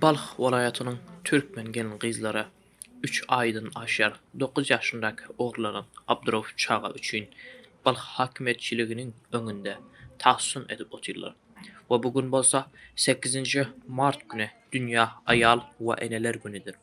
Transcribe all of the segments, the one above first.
Balh welaýatynyň türkmen gelin-gyzlary üç aýdan aşýar dokuz ýaşyndaky oglanlaryň Abdurauf çaga üçin Balh häkimiýetçiliginiň öňünde tassyn edip otyrlar we bu gün bolsa sekizinji mart güni dünýä aýal we eneler günüdir.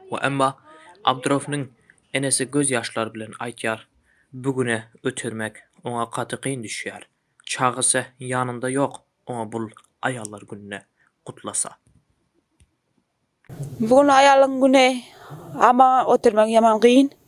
We emma Abdyrownyň enesi göz ýaşlary bilen aýtýar, Bu güne ötürmek oňa gaty kyn düşýär. Çagasy ýanynda ýok oňa bul aýallar gününe gutlasa. Bu gün aýallyň güni amma ötürmek ýaman kyn.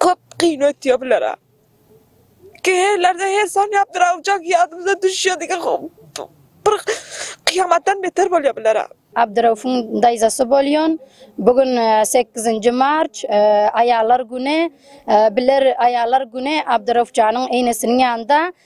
Köp kyn ötýär bulara. Käherlerde her sanýap bir awjak ýadymyza düşýär diýen bir kyýamatdan beter bolýar bulara. Abdyraufuň daýzasy bolýan. Bu gün sekizinji mart, aýallar güni. Biler aýallar güni Abdyrauf janyň enesiniň ýanynda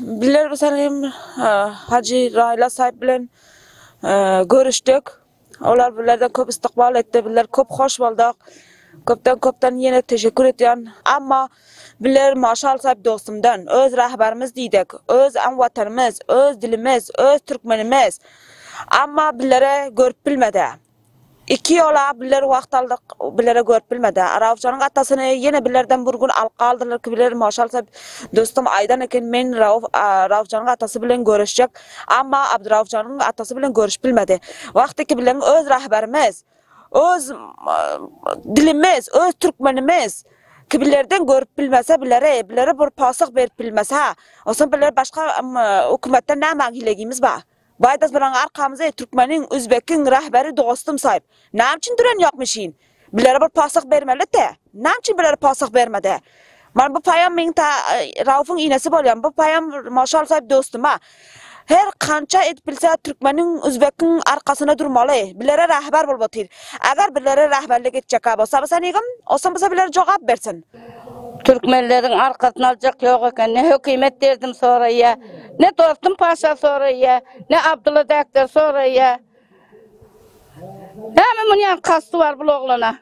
Bizler bu sany hem Hajy Raýyl Asaýew bilen görüşdik. Olar bizlerden köp ystykbal etdi. Bizler köp hoş bolduk. Köpden-köpden ýene teşekkür edýän. Emma bizler Maşa Alsaýew dostumdan, öz rahbarymyz diýdik, öz aň watanymyz, öz dilimiz, öz türkmenimiz. Emma bizlere görüp bilmedi. Iki ýola biller wagt aldyk, billere görüp bilmedi. Raufjanyň atasyny ýene billerden bir gün alyp galdylar ki, biller boşalsa, dostum aýdan eken, men Rauf Raufjanyň atasy bilen görüşjek, amma Abduraufjanyň atasy bilen görüşüp bilmedi. Wagt iki billeriň öz rahberimiz, öz dilimiz, öz türkmenimiz ki, billerden görüp bilmese, billere, billere bir posah berip bilmese, o son biller başga hökümetden nämäň hilegimiz bar? Baýdas bilen arkamyzy türkmeniň, üzbekiň rähberi dostum saýyp, näme üçin düren ýok mişin? Bilere bir posah bermelidi. Näme üçin bilere posah bermedi? Mana bu paýam meň ta Raufyň inesi bolýan, bu paýam Moşal saýyp dostuma. Her kança edip bilse türkmeniň, üzbekiň arkasyna durmaly. Bilere rähber bolup otyr. Eger bilere rähberlik etjekka bolsa bolsa nigim? Olsam bolsa biler jogap bersin. Türkmenleriň arkasyny aljak ýok eken, ne hökümet derdim soraýýar, ne Dostum paşa soraýýar, ne Abdylla däkler soraýýar. Näme muny ýaly kasty bar bul oglana?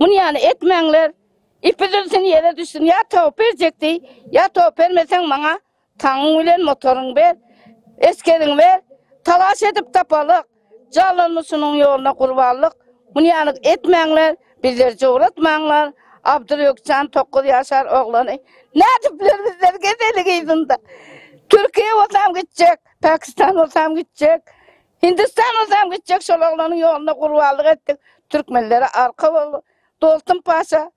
Muny ýaly etmäňler, ipi üzülsin ýere düşsün, ýa towup berjek diý, ýa towup bermeseň maňa Taňyň bilen motoryňy ber, Eskeriňi ber, Talaş edip tapalyk, Jallanmyşynyň ýoluna gurbanlyk, Munýanyk etmäňler, Bizleri jowratmaňlar, Abdyrýökjan tokuz ýaşar oglany, Nädipler bizler gezelik yzynda. Türkiýä bolsam gitjek, Pakistan bolsam gitjek, Hindistan bolsam gitjek, Şol oglanyň ýoluna gurbanlyk etdik, Türkmenlere arka boldy. Dolsun paşa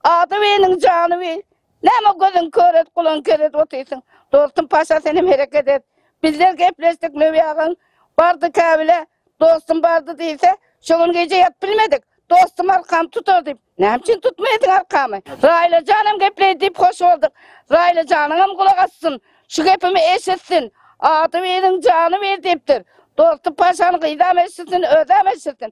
Ady weniň jany wi. Näme gözüň kör et, gulagyň ker et otyrsyň. Dostum Paşa senem hereket et. Bizler gepleşdik Löwi agaň bardy Kabile, dostum bardy diýse, şo gün gije ýatyp bilmedik. Dostum arkamy tutar diýip, näme üçin tutmaýarsyň arkamy? Raýla janam gepleý diýip hoş bolduk. Raýla janyňam gulak assyn. Şu gepimi eşitsin. Ady weniň jany wi diýipdir. Dostum Paşanyň gyzam eşitsin, özem eşitsin.